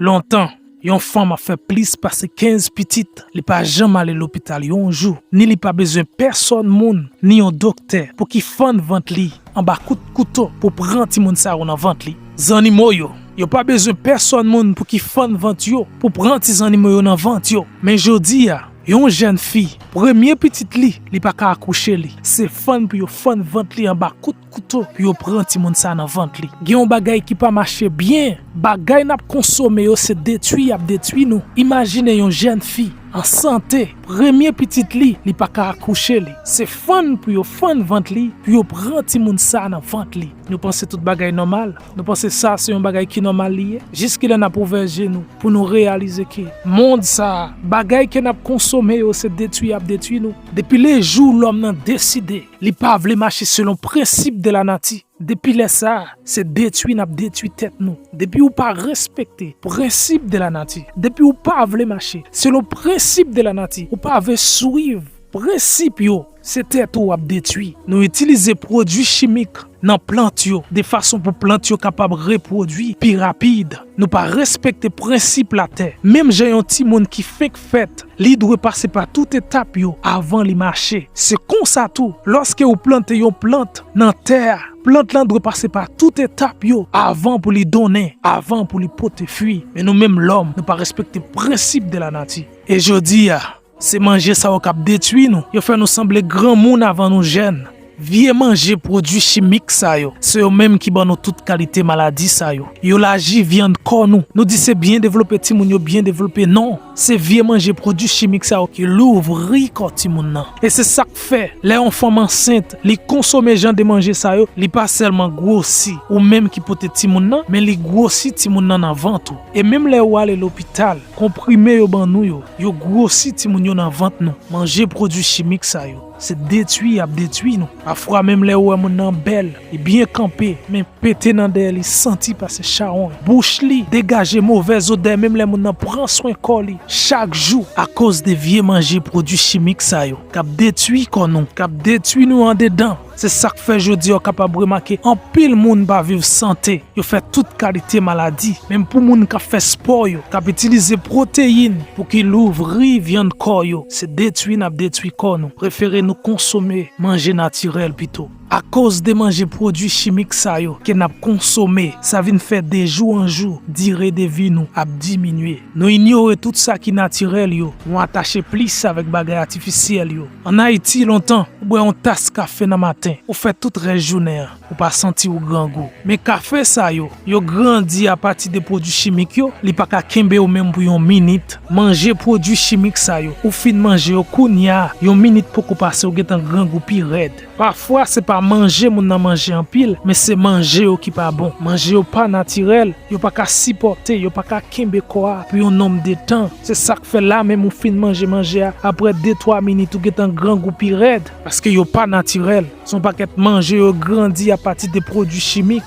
Lontan, yon fanm ap fè plis pase 15 pitit, li pa janm ale lopital yon jou, ni li pa bezwen pèsòn moun, ni yon doktè pou ki fann vant li anba kout kouto pou pran timoun sa yo nan vant li. Zannimo yo, yo pa bezwen pèsòn moun pou ki fann vant yo pou pran ti zannimo yo nan vant yo. Men jodi a, yon jèn fi, premye pitit li, li pa ka akouche li, se fann pou yo fann vant li anba kout. Kouto pou yo pran timoun sa nan vant li. Gen yon bagay ki pa mache byen, bagay nap konsome yo se detwi yap detwi nou, imajine yon jèn fi an sante premye pitit li li paka akouche li se fann pou yo fann vant li pou yo pran timoun sa nan vant li nou panse tout bagay nòmal nou panse sa se yon bagay ki nòmal li ye jiskilè nap ouvè je nou pou nou reyalize ke mond sa bagay ke nap konsome yo se detwi yap detwi nou depi le jou lòm nan deside Li pa vle mache selon prensip de la nati. Depi lè sa, se detwi n ap detwi tèt nou. Depi ou pa respekte prensip de la nati, depi ou pa vle mache selon prensip de la nati, ou pa ve swiv prensip yo, se tèt ou w ap detwi. Nou itilize pwodui chimik nan plant yo de fason pou plant yo kapab repwodui pi rapid. Nou pa respekte prensip latè. Menm jan yon timoun ki fenk. fèt, li dwe pase pa tout etap yo avan li mache. Se konsa tou, lòske ou plante yon plant nan tè a, plant lan dwe pase pa tout etap yo avan pou li donnen, avan pou li pote fwi. Men nou menm lòm, nou pa respekte prensip de lanati. E jodi a, se manje sa yo k ap detwi nou, yo fè nou sanble granmoun avan nou jèn. Vye manje pwodwi chimik sa yo, se yo menm ki ban nou tout kalite maladi sa yo. Yo laji vyann kò nou. Nou di se byen devlope timoun yo byen devlope, non! Se vye manje pwodwi chimik sa yo ki louvri kò timoun nan. E se sa k fè, lè yon fanm ansent, li konsome jan de manje sa yo, li pa sèlman gwosi ou menm ki pote timoun nan, men li gwosi timoun nan nan vant ou. E menm lè ou ale lopital, konprime yo ban nou yo, yo gwosi timoun yo nan vant nou. Manje pwodwi chimik sa yo. Se detwi yap detwi nou. Pafwa menm lè ou wè moun nan bèl, li byen kanpe, men pete nan dèyè li santi pase chawony. Bouch li degaje movèz odè menm lè moun nan pran swen kò li chak jou. Akoz de vye manje pwodwi chimik sa yo kap detwi kò nou, kap detwi nou andedan. Se sak fè jodi a ou kapab remake anpil moun pa viv sante. Yo fè tout kalite maladi, menm pou moun k ap fè spò yo, k ap itilize pwoteyin pou ki louvri vyann kò yo, se detwi n ap detwi kò nou, prefere nou konsome manje natirèl pito. Akoz de manje pwodwi chimik sa yo ke n ap konsome, sa vin fè de jou an jou dire de vi nou ap diminye. Nou inyore tout sa ki natirèl yo, nou atache plis avèk bagay atifisyèl yo. An Ayiti, lontan, ou bwè yon tas kafe nan maten, ou fè tout rès jounen an. Ou pa santi ou grangou. Men kafe sa yo, yo grandi apati de pwodui chimik yo, li pa ka kenbe ou menm pou yon minit. Manje pwodui chimik sa yo, ou fin manje yo kounya, yon minit poko pase ou gentan grangou pi rèd. Pafwa se pa manje moun nan manje anpil, men se manje yo ki pa bon. Manje yo pa natirèl, yo pa ka sipòte, yo pa ka kenbe kò a pou yon nonm de tan. Se sa k fè la menm ou fin manje manje a, aprè de twa minit ou gentan grangou pi rèd, paske yo pa natirèl. Se yon pakèt manje yo grandi a pati de pwodui chimik.